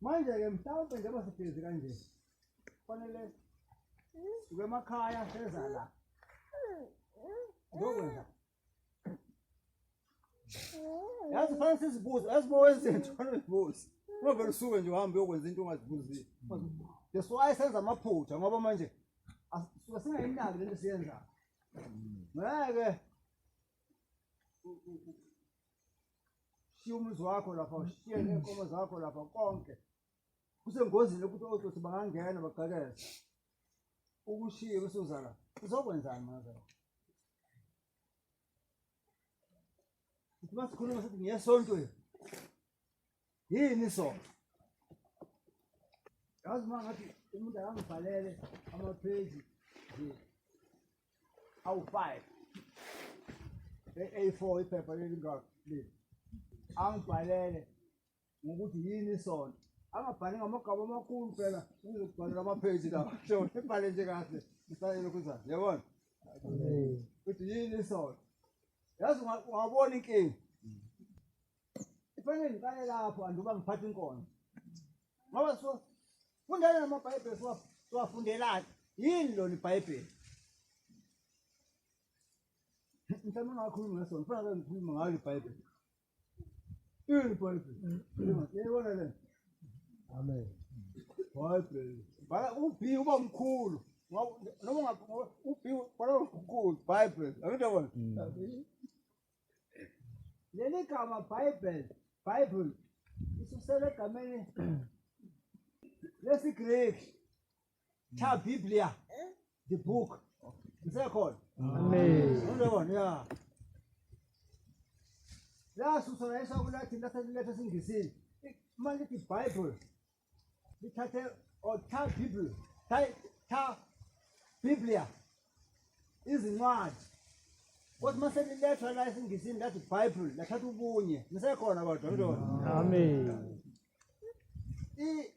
Manje-ke mhlawumbe njengoba sihlezi kanje kufanele sibe emakhaya seza la ngokwenza yazi fanele sizibuze yazi uma wenza into fanele uzibuze ungavele usuke nje uhambe uyokwenza into ungazibuzile that's why senza amaphutha ngoba manje suke singayinaki lento siyenzayo ngeke shiya umuzi wakho lapha ushiye neenkomo zakho lapha konke kusengozini yokuthi otsotsi bangangena bagqekeze ukushiye bese uza la uzokwenzani mazela uthi masikhuluma sithi ngiyesontweni yini isono yazi uma ngathi umuntu akangibhalele amapheji nje awu-five e-a4 iphepha lelingaka leli angibhalele ngokuthi yini isono angabhali ngamagama amakhulu phela uzokubhalela amapheji lawa shona ibhale nje kahle isalelo kuzayo yabona ukuthi yini isono yazi ungabona inkinga kufanele ngiqale lapho anduba ngiphatha inkonzo ngoba so fundela namabhayibheli siwafundelani yini lona ibhayibheli mhlawumbe ungakhulumi ngesona funa ke ngikhulume ngayo ibhayibheli yini ibhayibheli yayibona le amen bhayibheli bhala u-b uba mkhulu noma u-b bhala mkhulu bhayibheli angidabona Leli gama Bible, Bible isusele egameni lesiGreki cha Biblia, the book. Ngisekhona. Amen. Ngiyabona ya. Lasusela esakulathi lathi lethe singisini. Manje iBible Bithathe or tha Bible. Tha tha Biblia. Izincwadi. Kodwa mase liletha la esingisini lathi Bible lathatha ubunye. Nisekhona kodwa mntwana. Mm. Amen. I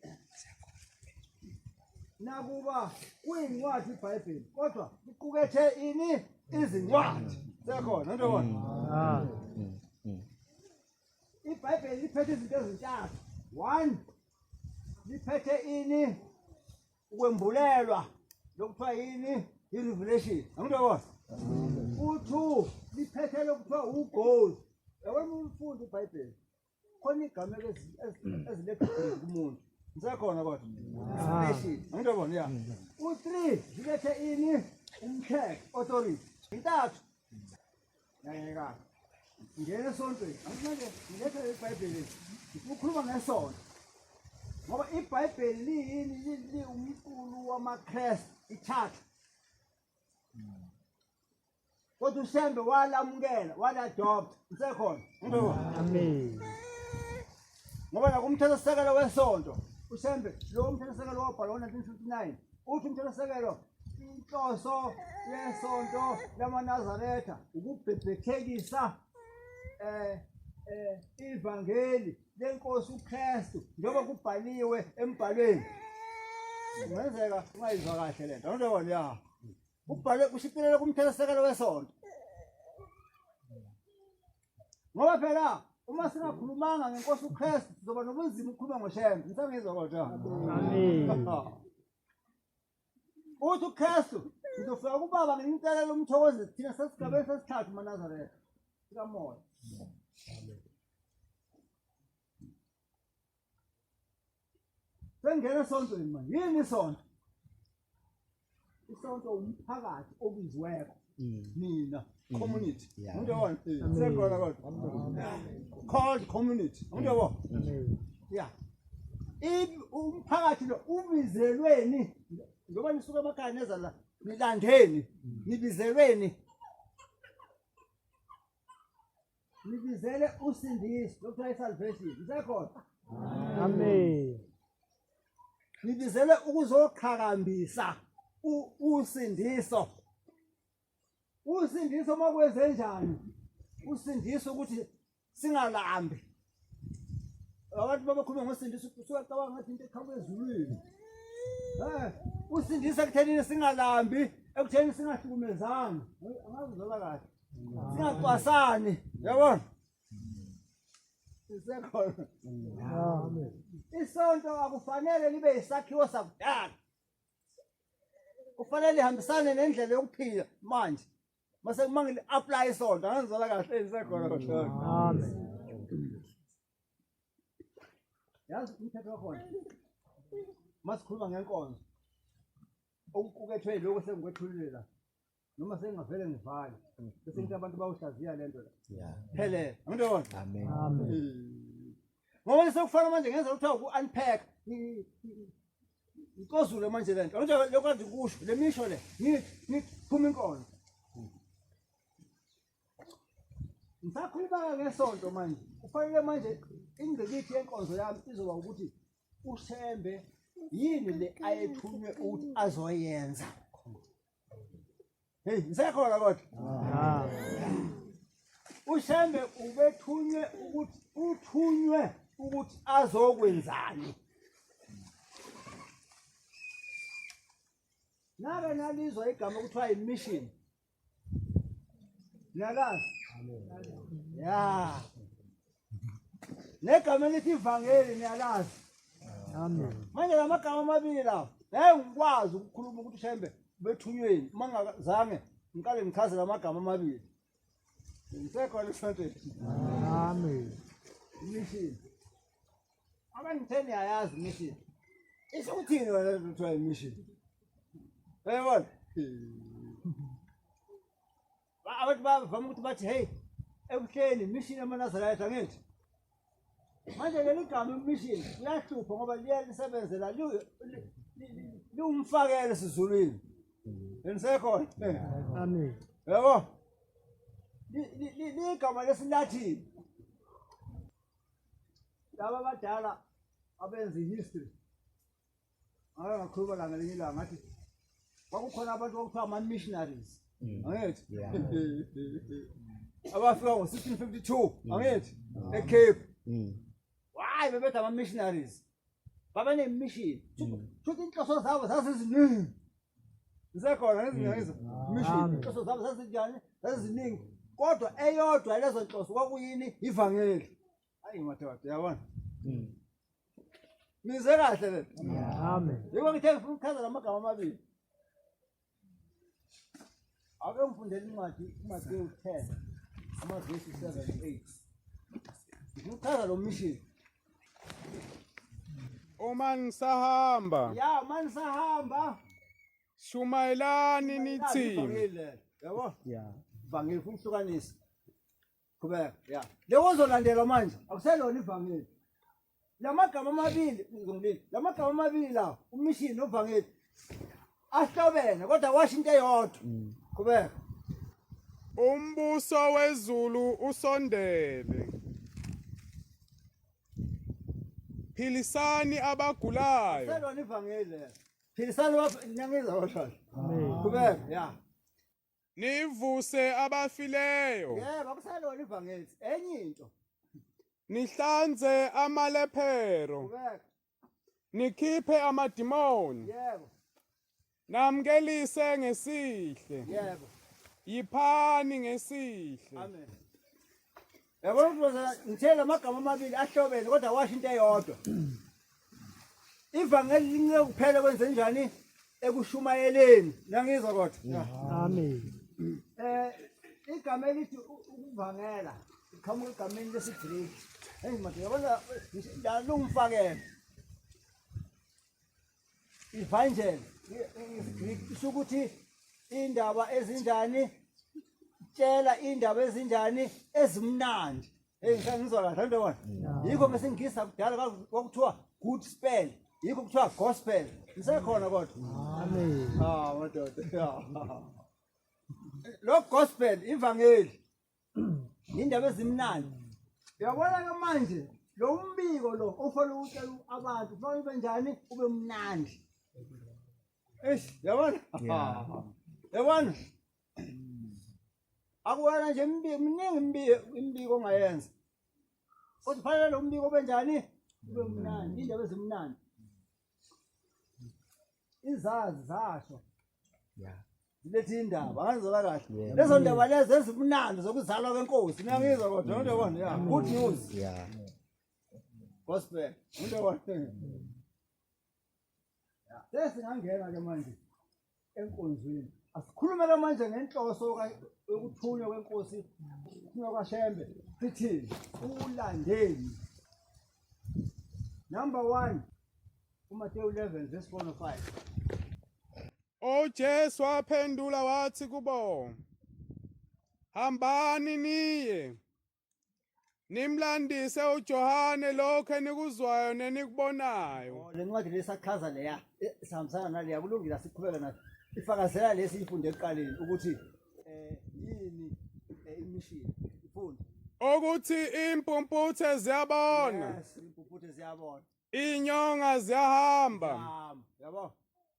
nakuba kuyincwadi iBhayibheli kodwa iqukethe ini izincwadi. Sekhona mntwana. Ah. ibhayibheli liphethe izinto ezintathu one liphethe ini ukwembulelwa lokuthiwa yini i-revelation angithi yabona u-two liphethe lokuthiwa ugoal yabona umfundi ibhayibheli khona igama eziletha kumuntu ngisekhona kodwa revelation angithi yabona ya u-three lilethe ini umthetho authority intathu yayeka ngene esontweni anginceke ngiletha ibhayibheli ukhuluma ngesonto ngoba ibhayibheli liyini liwumqulu wamakrestu ithatha kodwa ushembe walamukela waladopta usekhona amen ngoba nakumthethosisekelo wesonto ushembe lowo mthethosisekelo wabhalwa ngo-1959 Uthi umthethosisekelo inhloso yesonto lamaNazaretha ukubhebhethekisa eh eh ivangeli lenkosi uKristu njengoba kubhaliwe embhalweni kungenzeka ungayizwa kahle le nto njengoba liya kubhalwe kushiphelele kumthethosisekelo wesonto ngoba phela uma singakhulumanga ngenkosi uKristu sizoba nobunzima ukukhuluma ngoShembe ngisangizwa kodwa amen uthi uKristu ngizofika kubaba ngintelela umthokozi thina sesigabeni sesithathu manazaretha sikamoya Sengena esontweni manje. Yini isonto? Isonto umphakathi obiziweko. Mm. Nina mm. community. Umuntu yabona. Sekhona kodwa. Called community. Umuntu yabona. Mm. Yeah. umphakathi lo ubizelweni ngoba nisuka emakhaya neza la nilandeni nibizelweni Ngibizele usindiso lokuthiwa isalvation. Usekhona? Amen. Ngibizele ukuzoqhakambisa usindiso. Usindiso makwenze njani? Usindiso ukuthi singalambi. Abantu babakhuluma ngosindisa usuwacabanga ngathi into eqhamuka ezulwini. Eh, usindisa kuthenini singalambi, ekutheni singahlukumezani. Angazi zola kahle. Singacwasani, yabona? Isekhona. Amen. Isonto akufanele libe isakhiwo sakudala. Kufanele lihambisane nendlela yokuphila manje. mase uma ngili apply isonto angizala kahle isekhona kodwa amen yazi umthetho wakhona masikhuluma ngenkonzo okuqukethwe lokho sengikwethulile la noma sengingavele ngivale bese ngithi abantu bawuhlaziya le nto la phelele angiyona amen ngoba sekufanele manje ngenza ukuthi uku-unpack Nkozule manje lento. Manje lokwazi kusho lemisho le. Ni ni phuma inkolo. Ngisakhuluma ngesonto manje. Kufanele manje ingqikithi yenkonzo yami izoba ukuthi uShembe yini le ayethunywe ukuthi azoyenza. Hey, ngisekhona kodwa. Ah. uShembe ubethunywe ukuthi uthunywe ukuthi azokwenzani nake nalizwa igama kuthiwa yimission niyalazi ya negama elithi ivangeli niyalazi amen manje la magama amabili lawo ngeke ngikwazi ukukhuluma ukuthi shembe bethunyweni uma ngingazange ngiqale ngichaze la magama amabili ngisekhona esontweni amen imishini abangitheni yayazi imishini isho ukuthini wena kuthiwa imishini uyabona Ba- abantu bavama ukuthi bathi heyi ebuhleni imishini yamanazarayitha angithi manje leli gama imishini liyahlupha ngoba liye lisebenzela li- li- li- li- liwumfakelo esizulwini benisekhona Amen. yabo Li- li- li- ligama lesilathini laba abadala abenza i-history ngakhuluma la ngelinye ilanga ngathi kwakukhona abantu okuthiwa ama-missionaries mm. angithi abafika ngo-sixteen fifty two mm. angithi mm. ecape hhayi bebethi ama-missionaries babenemission shuthi inhloso zabo zaziziningi zisekhona ngezingezo mission inhloso zabo zazinjani zaziziningi kodwa eyodwa lezo nhloso kwakuyini ivangeli Ayi madoda yabona. Mm. Nize kahle le. Amen. Yebo ngithe ngifuna ukuchaza lamagama amabili. Ake ngifundele incwadi uMathewu 10 amavesi 7 8. Ngichaza lo mission. Uma ngisahamba. Ya, uma ngisahamba. Shumayelani nithi. Yabo? Yeah. Vangeli kumhlukanisa. Qhubeka. Yeah. Lewo ozolandelwa manje akuselona ivangeli. Lamagama amabili ngizongibili. Lamagama amabili la umishini novangeli. Ahlobene kodwa washo into eyodwa. Mm. Qhubeka. Umbuso wezulu usondele. Philisani abagulayo. Selona ivangeli. Philisani wapha nyangizwa washo. Qhubeka. Yeah. Nivuse abafileyo. Yebo akusalona ivangeli. Enye into. Nihlanze amalephero. Kubeka. Nikhiphe amadimoni. Yebo. Namkelise ngesihle. Yebo. Yiphani ngesihle. Amen. Yabona mfundisi ngithe lamagama amabili ahlobene kodwa washo into eyodwa. Ivangeli lince kuphela kwenze njani ekushumayeleni. Nangizwa kodwa. Amen. Eh igama elithi u- ukuvangela iqhamuka egameni lesiGreek. Hey manje yabona la lungifakela. Evangel isiGreek isho ukuthi indaba ezinjani tshela indaba ezinjani ezimnandi. Hey ngisangizwa kahle into wona. Yikho bese ngisa kudala kwakuthiwa good spell. Yikho kuthiwa gospel. Ngisekhona kodwa. Amen. Ah madoda. Lo gospel ivangeli Indaba ezimnandi. Uyabona ke manje lo umbiko lo ofana ukutshela abantu kufanele ube njani ube mnandi. Eish, yabona? Yabona? Akuwena nje imbiko miningi imbiko imbiko ongayenza. Kodwa kufanele lo mbiko ube njani? Ube mnandi, indaba ezimnandi. izazi zasho ya zilethe indaba angizola kahle lezo ndaba lezi ezimnandi zokuzalwa kwenkosi niyangizwa kodwa into yabona ya good news ya gospel into yabona sesingangena ke manje enkonzweni asikhulume ke manje ngenhloso yokuthunywa kwenkosi ukuthunywa kwashembe sithini ulandeni number one umateyu 11 verse 4 no 5 ujesu waphendula wathi kubo hambani niye Nimlandise uJohane lokho enikuzwayo nenikubonayo. Oh, le ncwadi lesachaza leya eh, sihambisana naleya kulungile siqhubeka nayo. Ifakazela lesi ifunde ekuqaleni ukuthi eh yini eh, imishini. Ifunde. Ukuthi impumputhe ziyabona. Yes, impumputhe ziyabona. Inyonga ziyahamba. Yabo.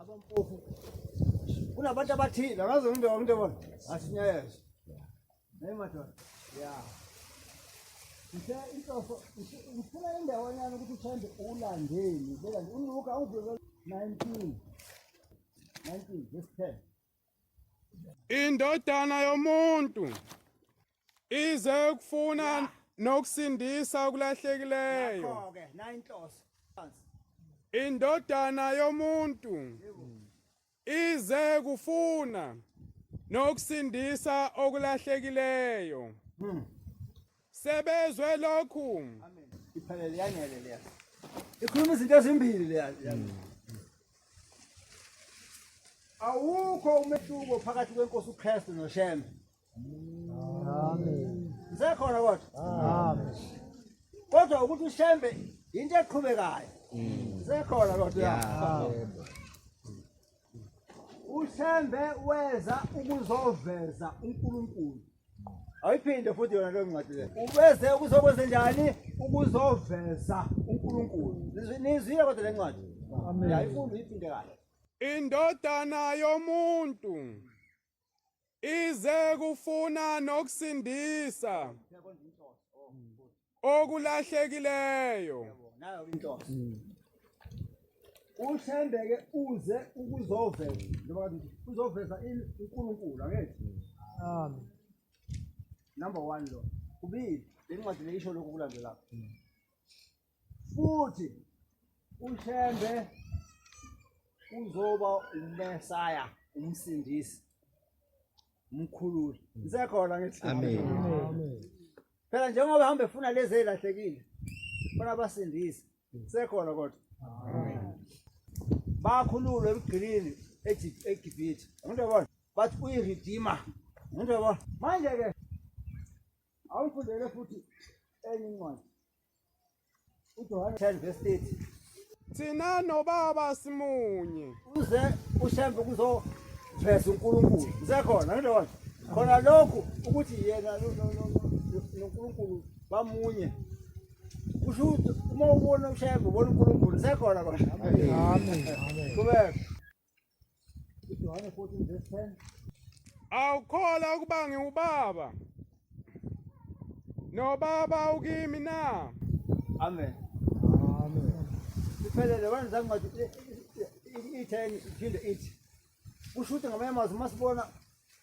abampofu kunabantu abathile akaze umntu umntu ebona asinyayeshe naye madoda ya ngithe inhloso ngifuna indawanyana ukuthi uthande ulandeni beka nje unuka awuvele 19 19 verse 10 indodana yomuntu ize ukufuna nokusindisa okulahlekileyo ke nayinhloso indodana yomuntu ize kufuna nokusindisa okulahlekileyo hmm. sebezwe lokhu amen iphelele yanele leya ikhuluma izinto ezimbili leya hmm. awukho umehluko phakathi kwenkosi uKristu noShembe ngisekhona kodwa kodwa ukuthi ushembe yinto eqhubekayo ngisekhona mm. kodwa ushembe weza ukuzoveza unkulunkulu ayiphinde futhi yona leyo ncwadi leyo ubeze ukuzokwenze njani ukuzoveza unkulunkulu nizwile kodwa le ncwadi yayifunde uyiphinde kahle indodana yomuntu ize kufuna nokusindisa okulahlekileyo uthembeke uze ukuzoveza njengoba uzoveza uNkulunkulu angethi amen number 1 lo kubili lencwadi leyisho lokhu kulandelayo futhi uShembe uzoba uMesaya umsindisi umkhululi ngisekhona ngithi amen phela njengoba hambe funa lezi elahlekile funa basindise ngisekhona kodwa bakhululwe emgqilini eGibhithe ngento yabona bathi uyiredeemer ngento yabona manje-ke awuyifundele futhi enye incwadi uJohane 10 verse 30 thina nobaba simunye uze ushembe kuzoveza uNkulunkulu ngisekhona ngidona khona lokhu ukuthi yena noNkulunkulu bamunye kusho ukuthi uma ubona ushembe ubona uNkulunkulu ngisekhona ba amen amen kubeka Johane 14 verse 10. Awukhola ukuba ngiwubaba. Nobaba ukimi na? Amen. Amen. Siphelele wena zangathi itheni iphinde ithi. Kusho ukuthi ngamanye amazwi uma sibona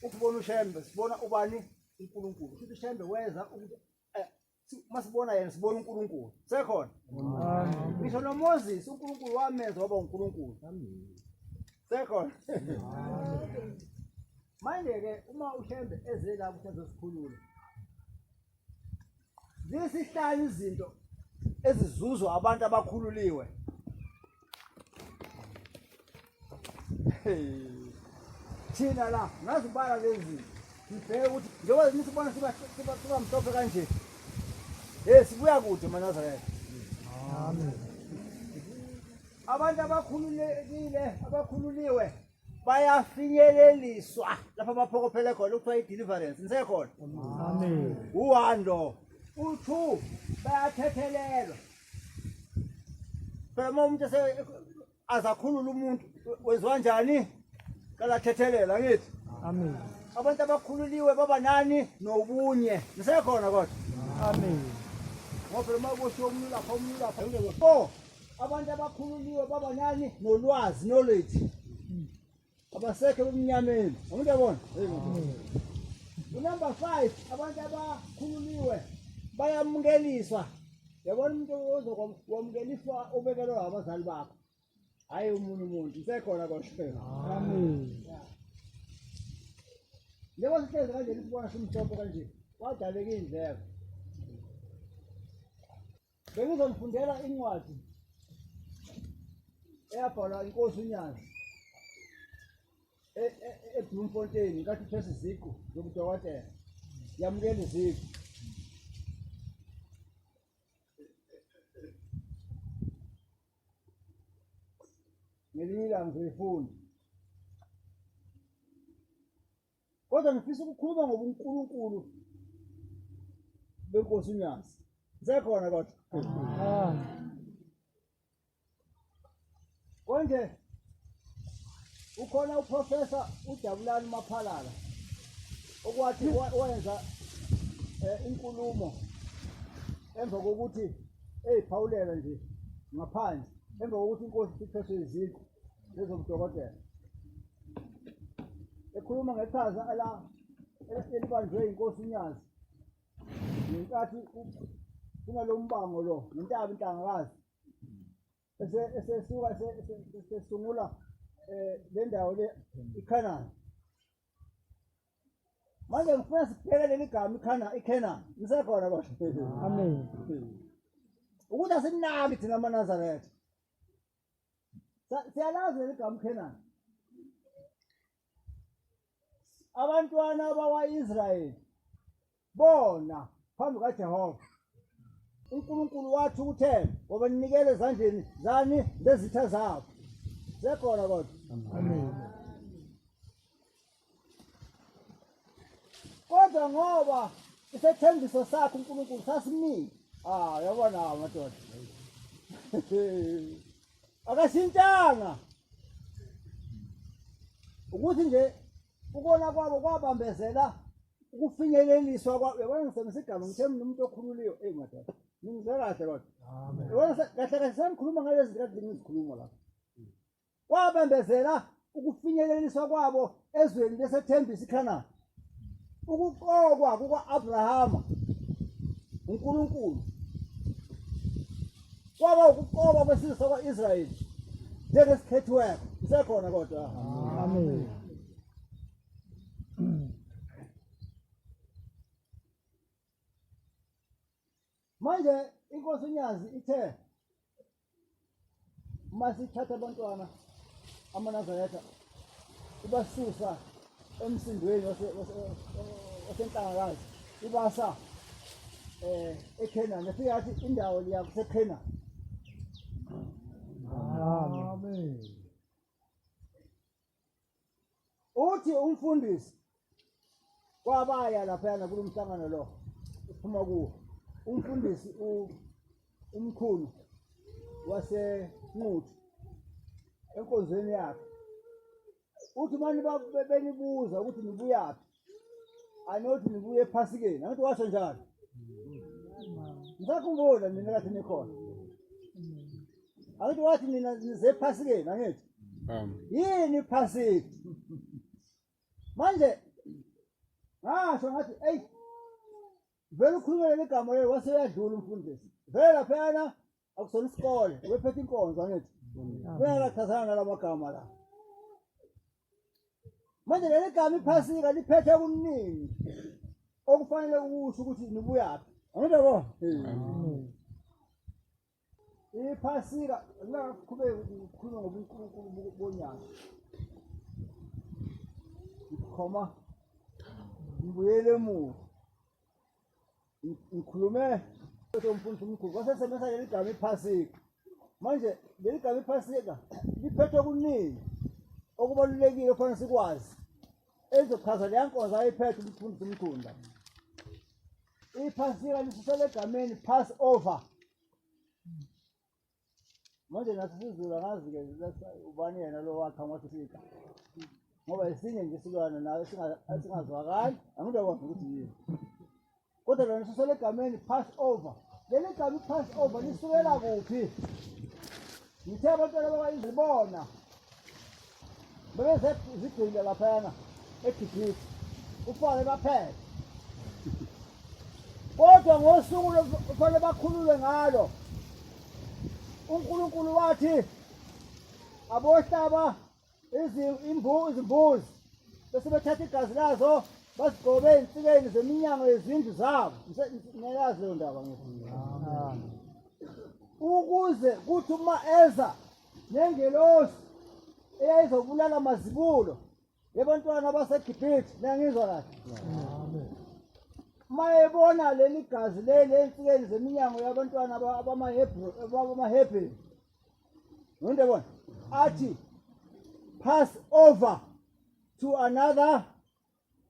ukubona ushembe sibona ubani uNkulunkulu. Kusho ukuthi ushembe weza ukuthi uma sibona yena sibona uNkulunkulu sekhona ngisho noMoses uNkulunkulu wamenza waba uNkulunkulu sekhona manje-ke uma ushembe eze la ukuthi azosikhulula zisihlanu izinto ezizuzwa abantu abakhululiwe thina la ngazibala lezi ngibheke ukuthi njengoba nisibona siba mhlophe kanje hey sibuya kude manazarela amen abantu abakhululekile abakhululiwe bayafinyeleliswa lapho abaphokophele khona ukuthiwa i-deliverance nisekhona amen uwando u-two bayathethelelwa phela uma umuntu azakhulula umuntu wenziwa njani kalathethelela ngithi amen abantu abakhululiwe baba nani nobunye nisekhona kodwa amen ngoba uma kushiwo umuntu lapha umuntu lapha four abantu abakhululiwe baba nani nolwazi knowledge abasekho ebumnyameni umuntu yabona unumber five abantu abakhululiwe bayamukeliswa yabona umuntu ozokwamukeliswa ubekelwe abazali bakho hhayi umuntu umuntu usekhona kwashela njengoba sihlezi kanje lisibona simhlophe kanje wadaleka iy'ndleko Bengizonifundela incwadi eyabhalwa inkosi uNyazi e- e- e- eBloemfontein nkathi uthesa iziqu zobudokotela yamukela iziqu ngelinye ilanga ngizoyifunda kodwa ngifisa ukukhuluma ngobunkulunkulu benkosi unyazi ngisekhona kodwa ah. konje ukhona uprofesa ujabulani maphalala okwathi wenza eh, inkulumo emva kokuthi eyiphawulela nje ngaphandle emva kokuthi inkosi iphethwe iziqu lezobudokotela ekhuluma ngeqhaza ala elibanjwe inkosi unyazi ngenkathi kunalo mbango lo nentaba intangakazi esesuka esesungula eh, le ndawo le ikhanani manje ngifuna sibheke leli gama ikhana ikhanani lisekhona kodwa amen ukuthi asinaki thina amanazaretha siyalazi leli gama ukhenani abantwana bakwa-israyeli bona phambi kajehova unkulunkulu wathi ukuthela ngoba ninikele ezandleni zani zezitha zabo sekhona kodwa kodwa ngoba isethembiso sakhe uNkulunkulu sasimile ah yabona amadoda akashintanga ukuthi nje ukona kwabo kwabambezela ukufinyeleliswa kwabo yabona ngisebenzisa igama ngithe mina umuntu okhululiwe eyi madoda ningizwe kahle kodwa yabona kahle kahle sanikhuluma ngalezi zikade ngizikhuluma lapho kwabambezela ukufinyeleliswa kwabo ezweni lesethembisa iKhanani ukuqokwa kuka-abrahama unkulunkulu kwaba ukuqokwa kwesizwe sakwa-israyeli njengesikhethiweko isekhona kodwa amen manje inkosi unyazi ithe uma sithatha abantwana amanazaretha ibasusa emsindweni wasenhlangakazi ibasa eh eKhenani efika athi indawo liya kuseKhenani amen uthi umfundisi kwabaya laphayana kulo mhlangano lo uphuma kuwo umfundisi umkhulu wasenquthu enkonzweni yakhe uthi mani benibuza ukuthi nibuyaphi anothi nibuye ephasikeni anothi washo njalo ngisakhumbula nina kathi nikhona anothi wathi nina nize ephasikeni angithi Um, yini iphasika manje ngasho ngathi eyi vele ukhulumele igama leli waseyadlula umfundisi vele laphayana akusona isikole ubephethe inkonzo angithi uyakachazana nalamagama la manje leli gama iphasika liphethe okuningi okufanele ukusho ukuthi nibuyaphi angithi bo iphasika ngingaqhubeki ukukhuluma ngobunkulunkulu bonyaka ngikhoma ngibuyele emuva ngikhulume mfundisi omkhulu wasesebenzisa leli gama iphasika manje leli gama iphasika liphethwe kuningi okubalulekile okufanele sikwazi elizochaza leya nkonzo ayiphethe umfundisi omkhulu la iphasika lisusela egameni pass over manje nathi sizulu angazi-ke ubani yena lo wakha ngothi sika ngoba esinye nje isilwane nayo esingazwakali angithi akwazi ukuthi yini kodwa lona sisele egameni pass over leli gama i-pass over lisukela kuphi ngithe abantwana bakayizibona bebezigcine laphana egibhisi kufanele baphele kodwa ngosuku kufanele bakhululwe ngalo unkulunkulu wathi abohlaba izimbuzi bese bethatha igazi lazo basigcobe ezinsikeni zeminyango yezindlu zabo ngiyayazi leyo ndaba ukuze kuthi uma eza nengelosi eyayizobulala amazibulo yebantwana basegibhithe niyangizwa kahle uma ebona leli gazi leli ensikeni zeminyango yabantwana abamahebheni nonto ebona athi pass over to another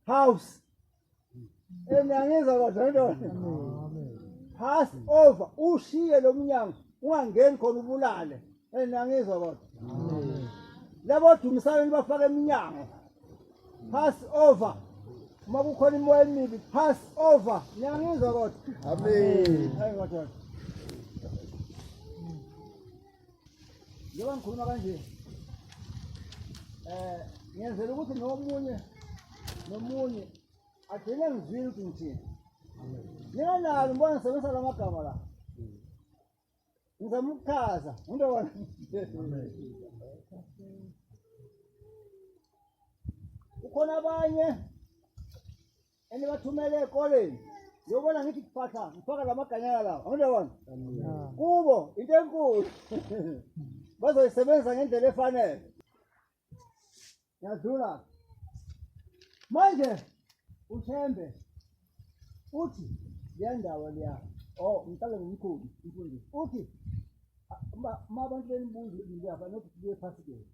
house enangiza kodwa indoda pass over ushiye lo mnyango ungangeni khona ubulale enangiza kodwa labo dumisana nibafaka eminyango pass over uma kukhona imoya emibi pass over niyangizwa kodwa amen njengoba ngikhuluma kanje um ngenzela ukuthi nomunye nomunye agcine ngizwile ukuthi ngithini ninganalo ngibona ngisebenzisa la magama la ngizama ukuchaza into wona ukhona abanye enibathumele ekoleni yobona ngithi kuphatha ngifaka la maganyana lawo angindabona kubo into enkulu bazoyisebenzisa ngendlela efanele yadlula manje uthembe uthi leya ndawo leya o oh, mhlawumbe ngumkhulu umfundisi uthi uma abantu benibuza ukuthi ngiyafanele ukuthi kuye phasi kephi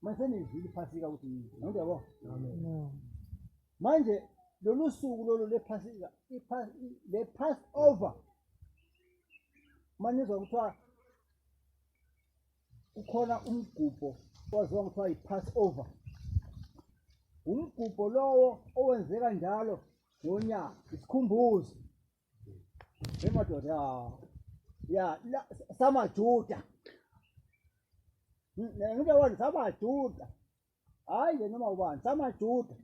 mase nizwile iphasika ukuthi yini nonke yabo manje lolu suku lolu lephasika le pass over manizwa kuthiwa kukhona umgubho owaziwa kuthiwa yi-pass over umgubho lowo owenzeka njalo ngonyaka isikhumbuzo Emadoda ya la samajuda. Ngike wona samajuda. Hayi nje noma ubani samajuda.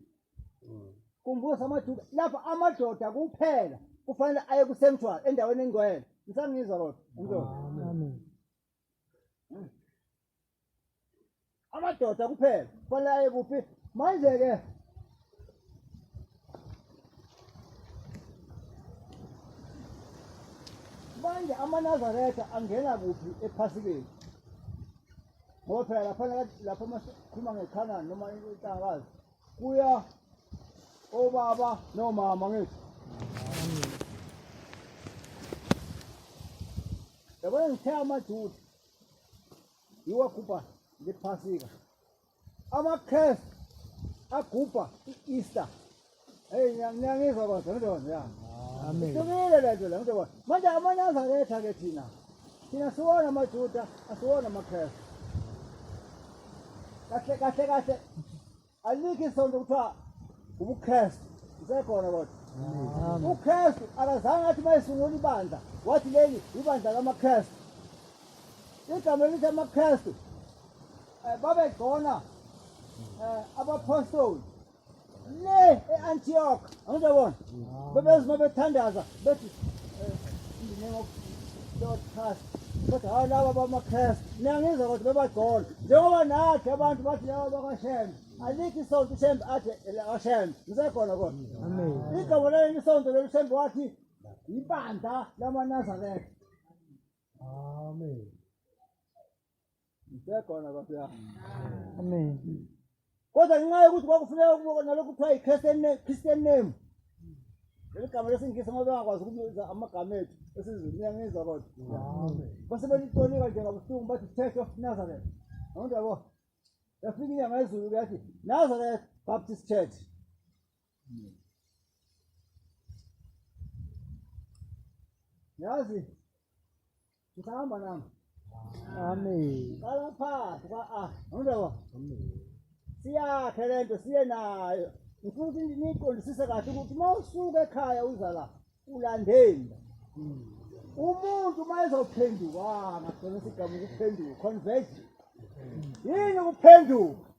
Kumbuka samajuda lapha amadoda kuphela kufanele aye kusanctuary endaweni engcwele. Ngisangizwa kodwa. Amen. amadoda kuphela kufanele aye kuphi manje-ke manje amanazaretha angena kuphi ephasikeni ngoba phela lapha lapha masikhuluma ngekhanani noma intangakazi kuya obaba nomama ngithi yabona ngithe amajuda iwagubha lephasika ama-cres agubha i-easter eyi ngiyangizwa kodwa ntokozo ya ihlukile le nto le ntokozo manje amanye azaletha ke thina thina siwona amajuda asiwona ama-cres kahle kahle kahle alikho isonto kuthiwa ubukristu usekhona kodwa ukristu akazange athi mayesungula ibandla wathi leli ibandla kamakristu igama elithi amakristu um babegcona um abapostoli le e-antiyok angizobona bebezima bethandaza bethi um in the name of lord christ kodwa hawu laba bamakhrestu niyangizwa kodwa bebagcola njengoba nathi abantu bathi laba bakashembe alikho isonto ushembe athi ashembe ngisekhona kodwa igama leli isonto leli ushembe wathi yibandla lamanazaretha amen ngisekhona nkosi yami amen kodwa ngenxa yokuthi kwakufuneka ukuba nalokhu kuthiwa yi-christian name leli gama lesingisi ngoba bengakwazi ukubiza amagama ethu esizulu niyangizwa kodwa base belitonika nje ngabuhlungu bathi church of nazareth awundi yabo yafika inyanga yezulu kuyathi nazareth baptist church Yazi ngisahamba nami. Amen. Qala phansi kwa a. Ngizwa. Siyakhe lento siye nayo. Ngifuna ukuthi niqondisise kahle ukuthi uma usuka ekhaya uza la ulandeni. Umuntu uma ezophenduka ngagcina isigamu ukuphenduka conversion. Yini ukuphenduka?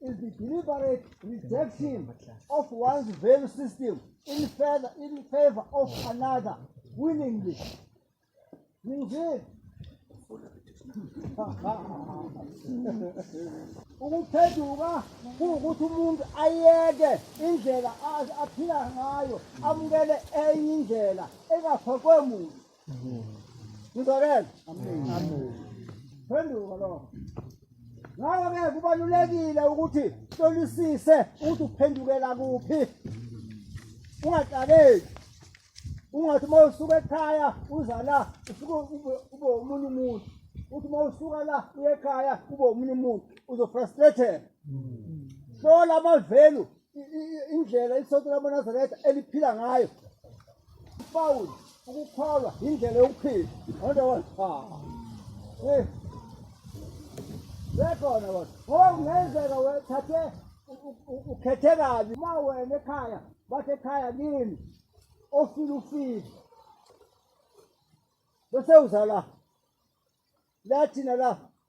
is the deliberate rejection of one's value system in favor, in favor of another willingly. Indeed. ukuphenduka kuwukuthi umuntu ayeke indlela aphila ngayo amukele enye indlela engafakwe muntu Ngizwakele. Amen. Phenduka lokho. Ngakho-ke kubalulekile ukuthi hlolisise ukuthi uphendukela kuphi ungaxakeki ungathi uma usuka ekhaya uza la usuke ube omunye umuntu uthi uma usuka la uye ekhaya ube omunye umuntu uzofrustrated hlola amavelu indlela isonto lamaNazaretha eliphila ngayo ufawuli ukukholwa yindlela yokuphila onto wona sekhona wona ngoba kungenzeka wethathe ukhethe kabi uma wena ekhaya bathi ekhaya kini ofile ufile bese uzala lathina la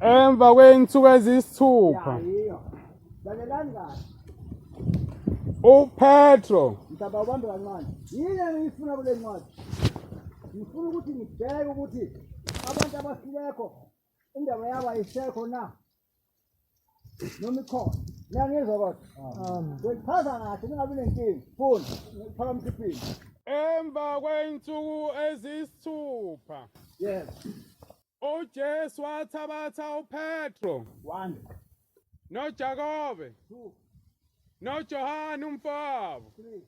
Emva kwey'nsuku eziyisithupha Lalelani kahle. uPetro Mhlaba ubambe kancane. Yini engiyifuna kule ncwadi? Ngifuna ukuthi ngibheke ukuthi abantu abafilekho indaba yabo ayisekho na? Noma ikhona. Niyangizwa kodwa? Ngikuchaza kahle ningabi nenkinga. Funda. Ngikuphakamise iphini. emva kwey'nsuku eziyisithupha Yebo. UJesu wathabatha uPetro One, noJakobe two, noJohane umfowabo three.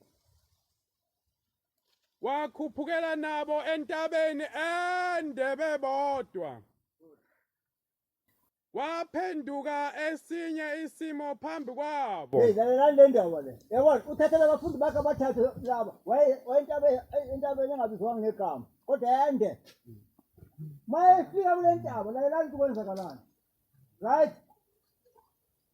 wakhuphukela nabo entabeni ende bebodwa. Kwaphenduka esinye isimo phambi kwabo. Hey, lalelani le ndaba le. Yabona, uthathela abafundi bakhe abathathu laba. Waye wayentaba intaba engabizwanga ngegama. Kodwa yande. Mayefika kule ntaba, lalelani ukuthi kwenzakalani. Right?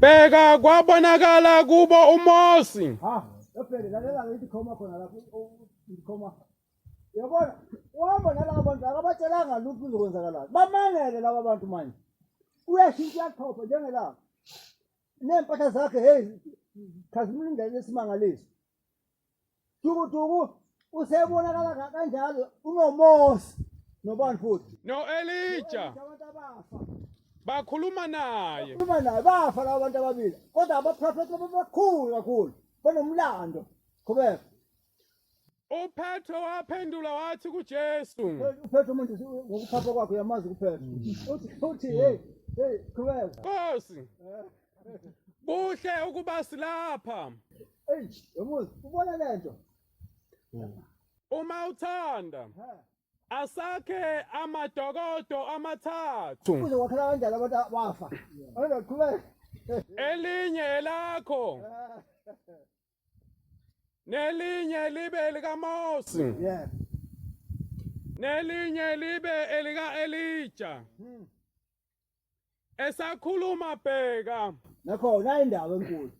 Bheka kwabonakala kubo uMosi. Ha, yaphele lalela ngithi khoma khona lapho ngikhoma. Yabona, uhamba nalabo bantu akabatshelanga lutho uzokwenzakalani. Bamangele laba bantu manje. Uyashintsha uyaqhopha njengelanga. Nempahla zakhe hey khazimlindele isimangaliso. dukuduku usebonakala ka- kanjalo unomosi nobani futhi No-Elija abantu abafa bakhuluma naye. uma naye bafa labo bantu ababili kodwa abaprofethi labo bakhulu kakhulu banomlando qhubeka UPetro waphendula wathi kuJesu, uphethe umuntu ngokuphapha kwakhe uyamazi kuphethe uthi uthi hey hey qhubeka Nkosi, Kuhle ukuba silapha. Ey, yomuzi, ubona lento? Uma uthanda asakhe amadokodo amathathu. Kuze wakhela kanjani abantu abafa? Abantu baqhubeka. Elinye elakho. Nelinye libe likaMose. Yeah. Nelinye libe elika Elija. Hmm. esakhuluma bheka nakhona indawo enkulu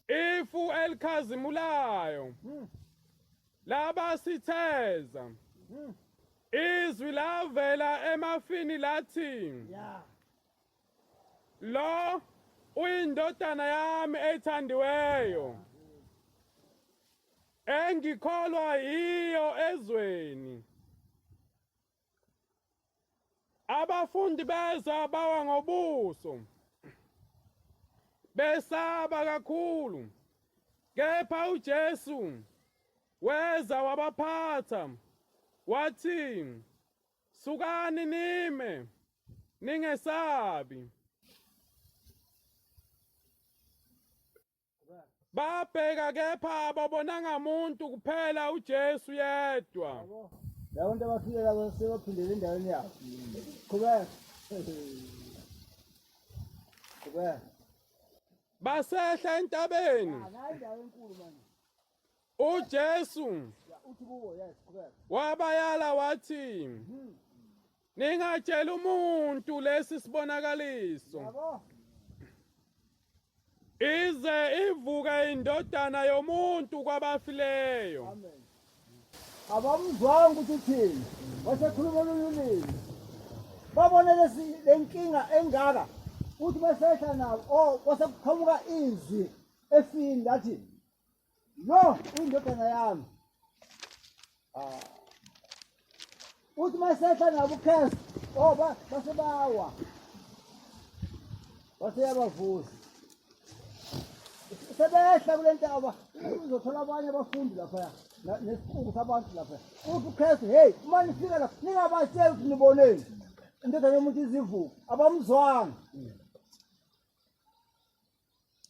ifu elikhazimulayo hmm. laba sitheza hmm. izwi lavela emafini lathi lo uyindodana yami ethandiweyo engikholwa yiyo ezweni Abafundi beza bawa ngobuso besaba kakhulu, kepha uJesu weza wabaphatha wathi, Sukani nime, ningesabi. babheka kepha ababonanga muntu kuphela uJesu yedwa lawo nto abafike labo sebaphindele endaweni yabo qhubeka qhubeka basehla entabeni ah, uJesu wabayala wathi ningatshela umuntu lesi sibonakaliso ize ivuke indodana yomuntu kwabafileyo amen abamuzwanga ukuthi uthini wasekhuluma olunye ulimi babone le nkinga engaka ukuthi besehla nabo o oh, kwasekuqhamuka izwi efini lathi Lo indodana yami. Ah. Uthi masehla nabo ukhesi. Oh ba basebawa. Baseyabavusa. Sebehla kule ntaba uzothola abanye abafundi lapha nesikhungu sabantu lapha. Uthi ukhesi hey uma nifika lapha ningabatsheli ukuthi niboneni. Indodana yomuntu izivuku abamzwanga.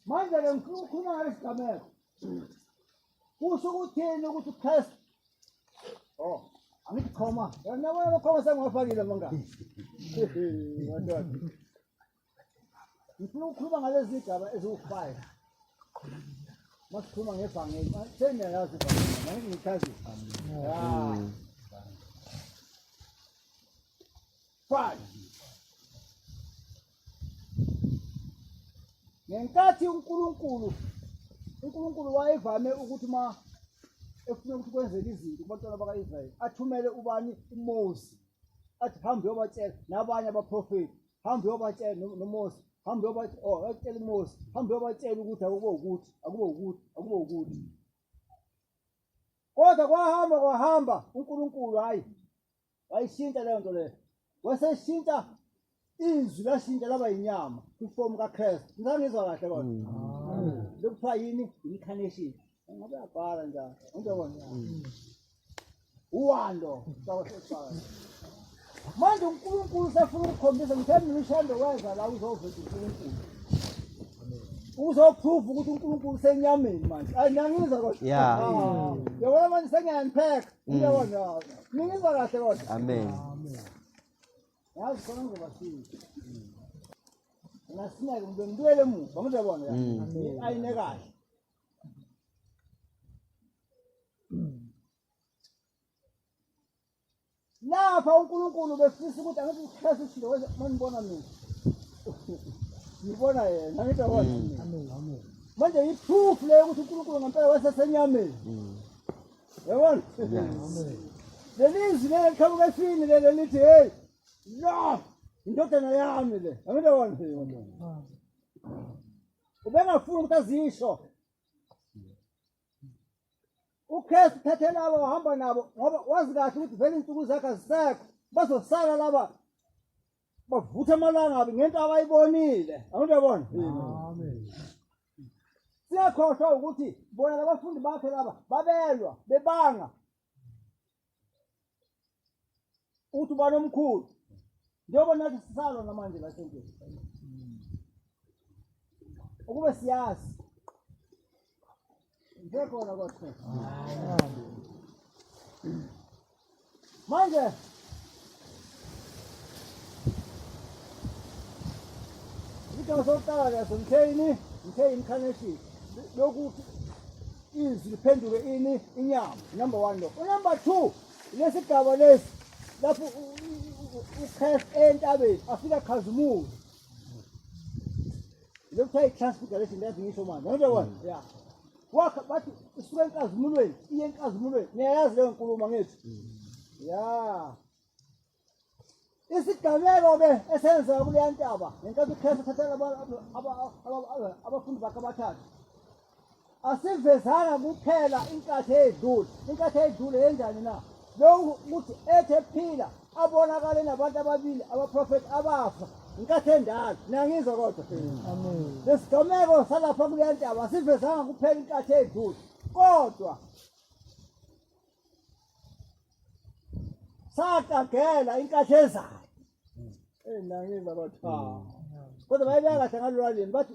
manje ke ngifuna ukukhuluma ngalesi gameko kusho ukuthini ukuthi uchrist o oh, angithi khoma yona wena bakhoma sengiwafakile mangani ngifuna ukukhuluma ngalezi zigaba eziwu-five masikhuluma ngebhangeli sengiyayazi ibhangeli mangichazi ya Fine. Ngenkathi uNkulunkulu uNkulunkulu wayevame ukuthi uma efuna ukuthi kwenzeke izinto kubantwana baka-Israyeli athumele ubani uMose athi hambe uyobatshela nabanye abaprofeti hambe uyobatshela noMose hambe uyobatshela oh atshela uMose hambe uyobatshela ukuthi akube ukuthi akube ukuthi akube ukuthi kodwa kwahamba kwahamba uNkulunkulu hayi wayishintsha leyo nto leyo waseshintsha izwi lashintsha laba yinyama kwifomu kakristu ngisangizwa kahle kodwa mm. lokuthiwa yini incarnation ngabe yabhala njalo ngizobona mm. uwando manje unkulunkulu sefuna ukukhombisa ngithe mina ushando weza la uzoveza unkulunkulu uzoprove ukuthi unkulunkulu senyameni manje ayi niyangizwa kodwa yabona manje sengiyangipheka Ngiyabona. Ningizwa kahle kodwa. Amen. Yazi khona ngobasiza. Ngasineke umuntu ngibuyele emuva ngizobona ya. Mm. Ayine kahle. Lapha uNkulunkulu befisa ukuthi angithi uhlase isinto wese manibona mina. Ngibona yena ngithi yabona. Amen. Manje iproof leyo ukuthi uNkulunkulu ngempela wasesenyameni. Yabona? Lelizwi leli qhamuka esini leli elithi hey lo indodana yami le. Yabona wona. Ubengafuni ukuthi azisho. UKristu thathe labo uhamba nabo ngoba wazi kahle ukuthi vele insuku zakhe azisekho. Bazosala laba bavutha amalangabi ngento abayibonile. Awuyabona? Amen. siyakhohlwa ukuthi bona labafundi bakhe laba babelwa bebanga ukuthi ubani omkhulu njengoba nathi sisalwa namanje la sentweni ukube siyazi Ngekhona kodwa. Manje Into sokuqala leso mtheyini, mtheyini mkhaneshi. Lokuthi izwi liphenduke ini inyama number 1 lo. Number 2 lesigaba lesi lapho ukhef entabeni afika khazimula lokuthiwa i-transfiguration yazi ngisho manje angibe kona ya wakha bathi isuka enkazimulweni iye enkazimulweni niyayazi leyo nkulumo ngithi ya isigameko-ke esenzeka kuleya ntaba ngenkathi ukristu thathela abafundi bakhe abathathu asivezanga kuphela inkathi eyedlule inkathi eyedlule yenjani na lokhu ukuthi ethe phila abonakale nabantu ababili abaprofethi abafa inkathi endala niyangizwa kodwa lesigameko salapha kule ntaba asivezanga kuphela inkathi eyedlule kodwa saqagela inkathi ezayo enangizwa kodwa kodwa bayibeka kahle ngalolwalini bathi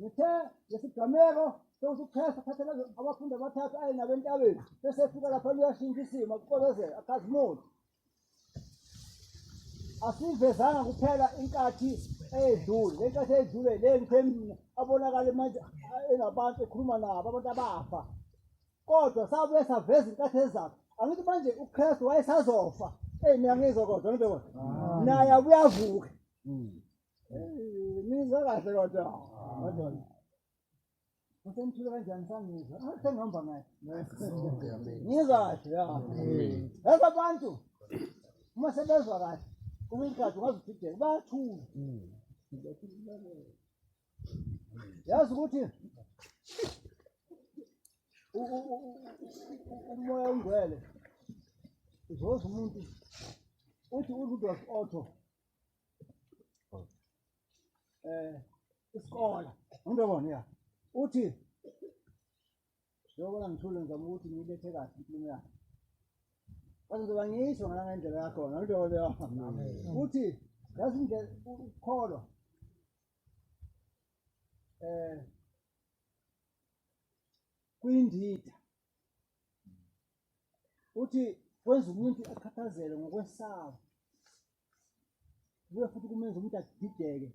ngithe ngesigameko sewusukhesa thathela abafundi abathathu aye nabo entabeni bese efika lapha luyashintsha isimo kuxokozela akazimuthi asivezanga kuphela inkathi eyedlule le nkathi eyedlule le ngithe mina abonakale manje enabantu ekhuluma nabo abantu abafa kodwa sabuye saveza inkathi ezakhe angithi manje ukristu wayesazofa eyi mina ngizwa kodwa ngibe kodwa naye abuyavuka Nizwa kahle kodwa. Madonna. Usemthule kanjani sangizwa? Sengihamba ngaye. Ngizwa kahle ya. Yazi abantu uma sebezwa kahle kwesinye isikhathi ungaze udideke bayathula. Yazi ukuthi umoya ongcwele uzoza umuntu uthi uRudolf Otto eh isikole into bona ya uthi njengoba ngithule ngizama ukuthi ngiyilethe kahle inkulumo yakhe bazoba ngisho ngangendlela yakhona into leyo uthi yazi indlela ukukholwa eh kwindida uthi kwenza umuntu akhathazele ngokwesaba kuye futhi kumenza umuntu adideke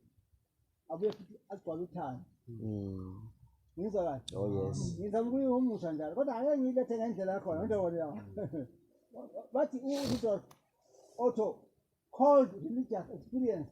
abuye futhi agcwale uthando mm. ngizwa kahle oh yes ngizama ukuyihumusha njalo kodwa ake ngiyilethe ngendlela yakhona into yona yawo bathi uRudolf Otto called religious experience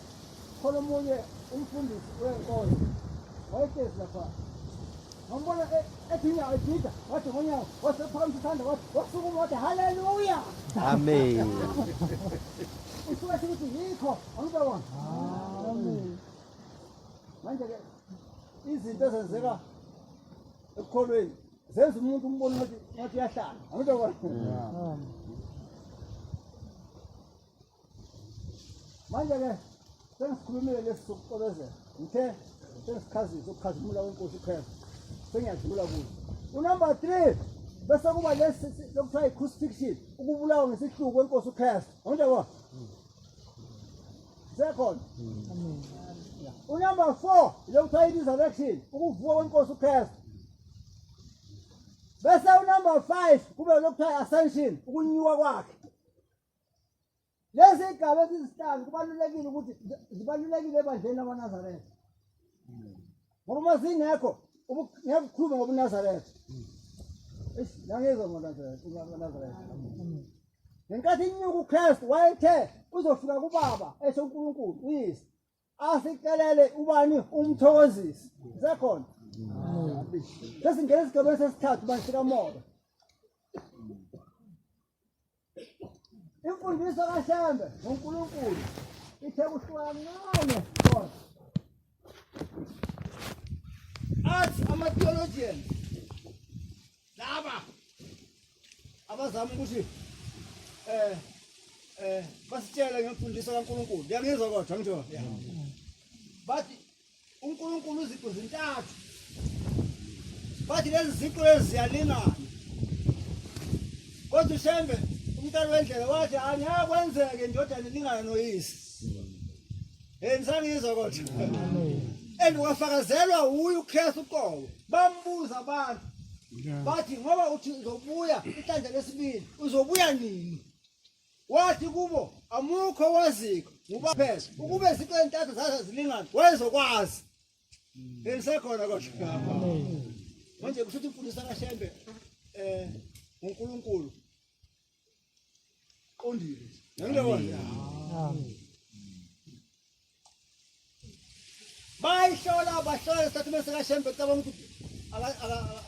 Khona omunye umfundisi wenkonzo wayehlezi lapha wambona e- ethi inyawo edida wathi ngonyawo wasephakamisa isandla wathi wasukuma wathi haleluya Amen. usuke ethi ukuthi yikho angibe wona manje-ke izinto ezenzeka ekukholweni zenza umuntu umbone ngathi ngathi uyahlala angibe wona manje ke sengikhulumile lesi sokuxolezela ngithe sengichazise ukukhazimula wenkosi ikhwela sengiyadlula kuyo unumber three bese kuba lesi lokuthiwa yi-crucifixion ukubulawa ngesihluku kwenkosi ukhristu anginjabo sekhona unumber four lokuthiwa i-resurrection ukuvuka kwenkosi ukhristu bese unumber five kube lokuthiwa i-ascension ukunyuka kwakhe Lezi igaba ezizihlanu kubalulekile ukuthi zibalulekile ebandleni lamaNazaretha. Ngoba uma zingekho ngeke ukhulume ngobuNazaretha. Eish, ngangizwa ngoNazaretha, ngoNazaretha. Ngenkathi inyuka uKristu wayethe uzofika kuBaba esho uNkulunkulu uyise. asicelele ubani umthokozisi sekhona sesingena esigabeni sesithathu ubani sikamoya imfundiso kashembe ngonkulunkulu ithe kuhlukancane kodwa athi ama-theologians laba abazama ukuthi eh eh basitshele ngemfundiso kaNkuluNkulu yangizwa kodwa ngitho bathi uNkulunkulu uziqu zintathu bathi lezi ziqu eziyalingana kodwa ushembe umntana wendlela wathi angiyakwenzeke ndodana ilingana noyise Hey msangizwa kodwa. And wafakazelwa uyu uKristu uqobo. Bambuza abantu. Bathi ngoba uthi uzobuya inhlanhla lesibili, uzobuya nini? Wathi kubo amukho waziko ngoba phela ukube izinto ezintathu zaze zilingana wayezokwazi. Hey msekhona kodwa. Manje kushuthi imfundiso kaShembe eh uNkulunkulu qondile bayihlola bahlola isitatimende sikashembe cabanga ukuthi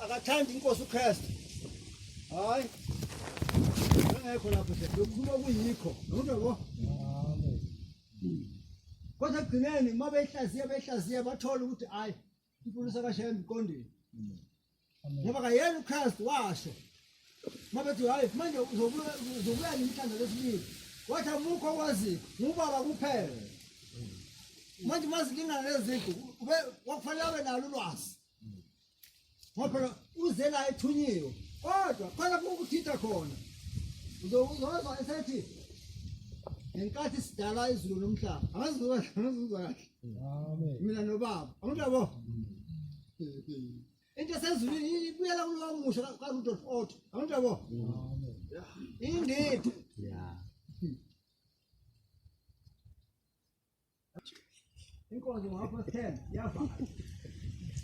akathandi inkosi ukristu hayi engekho lapho lokhuluma kuyikho nokuyabo kodwa ekugcineni uma beyihlaziya beyihlaziya bathola ukuthi hhayi Ipolisi akashaya emqondweni. Mm. Ngoba kayena uChrist washo. Mabethi hayi manje uzobuya uzobuya nemhlanje lesibili. Wathi amukho kwazi ngubaba kuphela. Mm. Manje mazilingana lezinto ube kwakufanele abe nalo ulwazi. Mm. Ngoba phela uze la ethunyiwe kodwa khona kukuthitha khona. Uzozwa esethi ngenkathi sidala izulu nomhlaba. Angazi uzwa kahle. Amen. Mina nobaba. Amuntu yabo. Into sezulwini ibuyela kulowo musho ka Rudolph Otto. Amuntu yabo. Amen. Indidi. Yeah. Inkonzo ngapha 10 yavala.